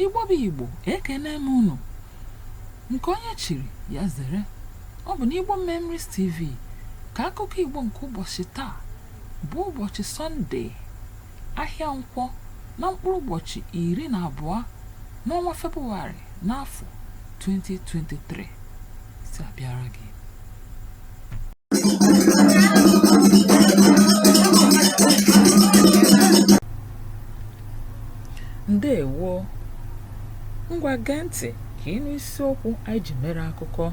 Igbo bụ Igbo ekene m unu nke onye chiri ya zere ọ bụ n'Igbo Memories TV ka akụkọ Igbo nke ụbọchị taa bụ ụbọchị Sọnde ahịa nkwọ na mkpụrụ ụbọchị iri na abụọ n'ọnwa Febụwarị n'afọ 2023 si abịara gị ndewo ngwa gee ntị ka ị nụ isiokwu anyị ji mere akụkọ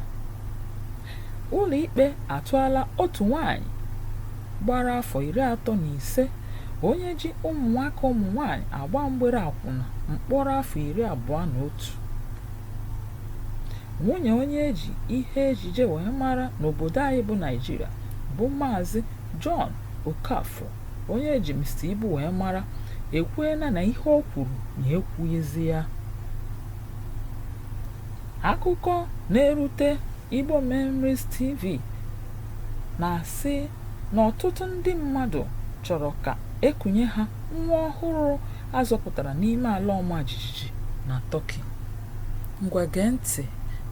ụlọikpe atụọla otu nwanyị gbara afọ iri atọ na ise onye ji ụmụnwaka ụmụnwanyị agba mgbere akwụna mkpọrọ afọ iri abụọ na otu nwunye onye e ji ihe ejije wee mara n'obodo anyị bụ Naịjirịa bụ maazị John Okafor onye e ji Mr. Ibu wee mara ekwuela na ihe o kwuru na ya ekwughịzi ya akụkọ na-erute Igbo Memories TV na-asị na ọtụtụ ndị mmadụ chọrọ ka e kunye ha nwa ọhụrụ a zọpụtara n'ime ala ọma jijiji na Tọki. Ngwa gee ntị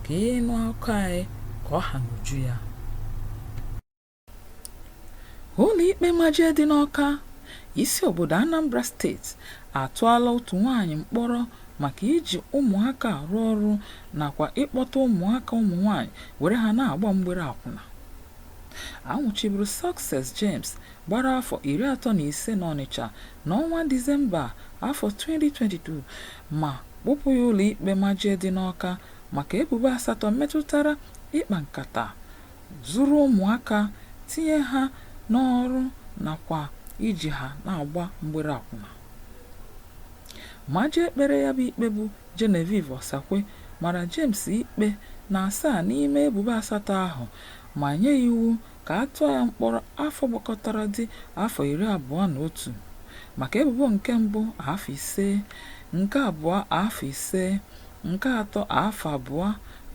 ka ị nụ akụkọ anyị ka ọ ha n'uju ya. Ụlọikpe Majie dị n'Ọka, isi obodo Anambra steeti atụọla otu nwaanyị mkpọrọ maka iji ụmụaka arụ ọrụ nakwa ịkpọta ụmụaka ụmụnwaanyị were ha na-agba mgbere akwụna. A nwụchiburu Success James gbara afọ iri atọ na ise n'Ọnịcha n'ọnwa Disemba afọ 2022 ma kpụpụ ya ụlọikpe majie dị n'Ọka maka ebubo asatọ metụtara ịkpa nkata, zuru ụmụaka tinye ha n'ọrụ nakwa iji ha na-agba mgbere akwụna. Majie kpere ya bụ ikpe bụ Genevieve Osakwe mara James ikpe na asaa n'ime ebubo asatọ ahụ ma nye iwu ka a tụọ ya mkpọrọ afọ gbakọtara dị afọ iri abụọ na otu maka ebubo nke mbụ afọ ise, nke abụọ afọ ise, nke atọ afọ abụọ,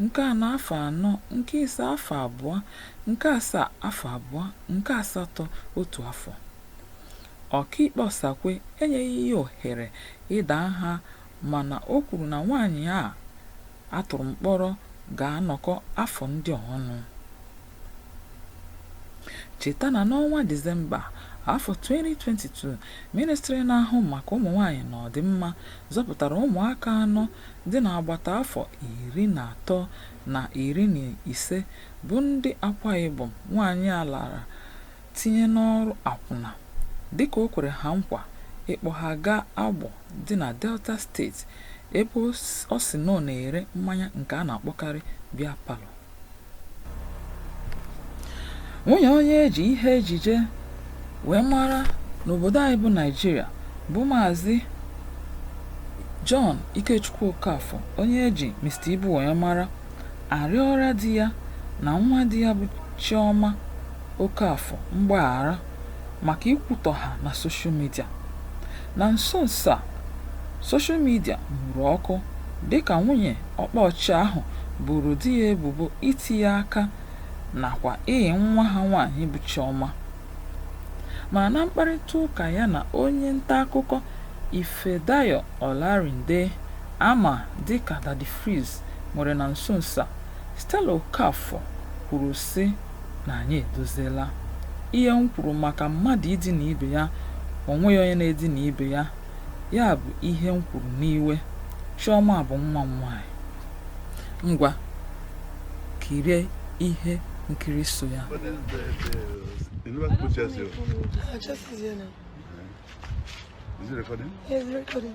nke anọ afọ anọ, nke ise afọ abụọ, nke asaa afọ abụọ, nke asatọ otu afọ. Ọkaikpe Osakwe enyeghị ya ohere ịda nha mana o kwuru na nwaanyị a a tụrụ mkpọrọ ga-anọkọ afọ ndị a ọnụ. Cheta na n'ọnwa Disemba afọ 2022, Mịnịstrị na-ahụ maka ụmụnwaanyị na ọdịmma zọpụtara ụmụaka anọ dị n'agbata afọ iri na atọ na iri na ise bụ ndị Akwa Ibom nwaanyị a lara tinye n'ọrụ akwụna dịka o kwere ha nkwa ịkpọ ha gaa Agbọ dị na Delta steeti ebe ọ sị na ọ na-ere mmanya nke a na-akpọkarị Beer Parlour. nwunye onye eji ihe ejije wee mara n'obodo anyị bụ naijiria bụ maazị john ikechukwu okafọ onye eji mr ibu wee mara arịọla di ya na nwa di ya bụ chioma okafọ mgbaghara maka ikwutọ ha na soshal midia. Na nso nso a, soshal midia nwuru ọkụ dịka nwunye ọkpa ọchị ahụ boro di ya ebubo iti ya aka nakwa ịyị nwa ha nwaanyị bụ Chioma. Mana na mkparịtaụka ya na onye ntaakụkọ Ifedayo Olarinde a ma dịka Daddy Freeze nwere na nso nso a, Stella Okafor kwuru sị, na anyị edoziela ihe m kwuru maka mmadụ idina ibe ya o nweghị onye na-edina ibe ya ya bụ ihe m kwuru n'iwe chiọma bụ nwa m nwaanyị ngwa kirie ihe nkiri so ya Is it recording? Yes, recording.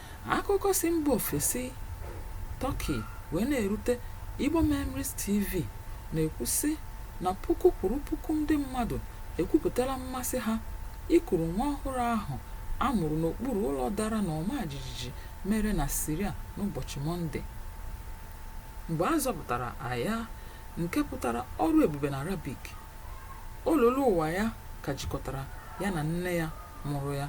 Akụkọ si mba ofesi Turkey wee na-erute Igbo Memories TV na-ekwu sị na puku kwuru puku ndị mmadụ ekwupụtala mmasị ha ikuru nwa ọhụrụ ahụ a mụrụ n'okpuru ụlọ dara n'ọma jijiji mere na Syria n'ụbọchị Mọnde. Mgbe a zọpụtara Aya, nke pụtara ọrụ ebube n'Arabik, olulu ụwa ya ka jikọtara ya na nne ya mụrụ ya.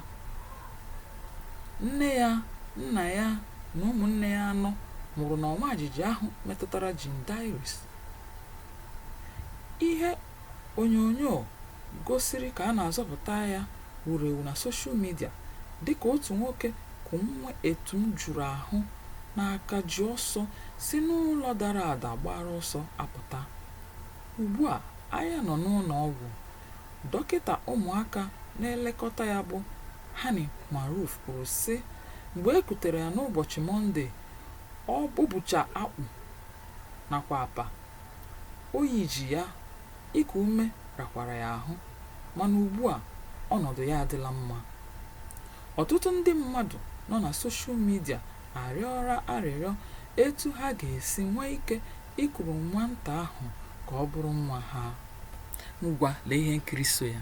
Nne ya, nna ya na ụmụnne ya anọ nwụrụ n'ọma jijiji ahụ metụtara Jindayris. Ihe onyonyo gosiri ka a na-azọpụta Aya wuru ewu na soshal midia dịka otu nwoke ku nwa etum juru ahụ n'aka ji ọsọ si n'ụlọ dara ada agbara ọsọ apụta. Ugbua, Aya nọ n'ụlọ ọgwụ Dọkịta ụmụaka na-elekọta ya bụ Hani Marouf kwuru sị, Mgbe e kutere ya n'ụbọchị Mọnde, ọ o bucha akpụ nakwa apa, oyi ji ya, iku ume rakwara ya ahụ, mana ugbua, ọnọdụ ya adịla mma. Ọtụtụ ndị mmadụ nọ na soshal midia arịọla arịrịọ etu ha ga-esi nwee ike Ikuru nwata ahụ ka ọ bụrụ nwa ha. Ngwa lee ihe nkiri so ya.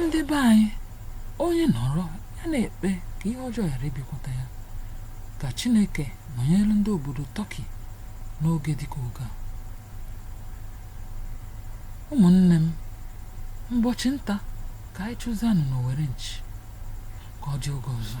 ndị be anyị onye nọrọ ya na-ekpe ka ihe ọjọọ ghara ịbịakwute ya ka Chineke nọnyere ndị obodo Tọki n'oge dịka oge a ụmụnne m mbọchị nta ka anyị chụzianụ n'Owere nchi ka ọ dị oge ọzọ